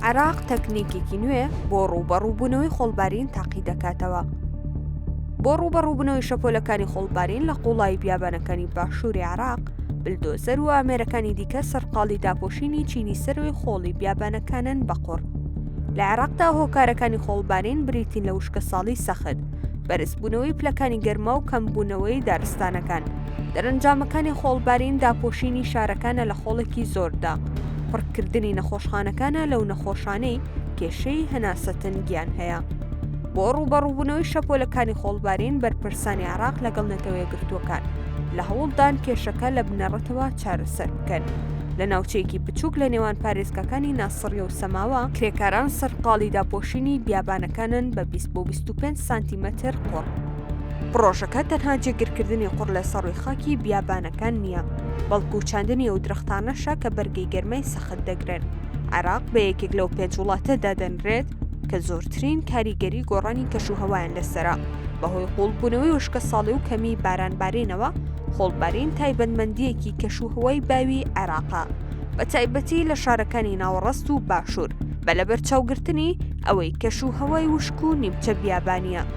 عێراق تەکنیکێکی نوێ بۆ ڕووبەڕووبوونەوەی خۆڵبارین تاقی دەکاتەوە بۆ ڕووبەڕووبوونەوەی شەپۆلەکانی خۆڵبارین لە قوڵایی بیابانەکانی باشووری عراق بلدۆزەر و ئامێرەکانی دیکە سەرقاڵی داپۆشینی چینی سەروی خۆڵی بیابانەکانن بەقڕ لە عێراقدا هۆکارەکانی خۆڵبارین بریتین لە وشکە ساڵی سەخت بەرزبوونەوەی پلەکانی گەرما و کەمبوونەوەی دارستانەکان دەرەنجامەکانی خۆڵبارین داپۆشینی شارەکانە لە خۆڵێکی زۆردا، پڕکردنی نەخۆشخانەکانە لەو نەخۆشانەی کێشەی هەناسەتەنگیان هەیە. بۆ ڕووبەڕووبوونەوەی شەپۆلەکانی خۆڵبارین بەرپرسانی عێراق لەگەڵ نەتەوە یەکگرتووەکان لە هەوڵدان کێشەکە لە بنەڕەتەوە چارەسەر بکەن. لە ناوچەیەکی بچووک لە نێوان پارێزگاکانی ناسڕیە و سەماوە، کرێکاران سەرقاڵی داپۆشینی بیابانەکانن بە 20 بۆ 25 سانتیمەتر قوڕ. پڕۆژەکە تەنها جێگرکردنی قوڕ لە سەڕوی خاکی بیابانەکان نییە، بەڵکو چاندنی ئەو درەختانەشە کە بەرگەی گەرمای سەخت دەگرن. عێراق بە یەکێک لەو پێنج وڵاتە دادەنرێت کە زۆرترین کاریگەری گۆڕانی کەشوهەوایان لەسەرە، بەهۆی قووڵبوونەوەی وشکەساڵی و کەمیی بارانبارینەوە، خۆڵبارین تایبەتمەندییەکی کەشوهەوای باوی عێراقە، بەتایبەتی لە شارەکانی ناوەڕست و باشوور، بە لەبەرچاوگرتنی ئەوەی کەشوهەوای وشک و نیمچە بیابانییە.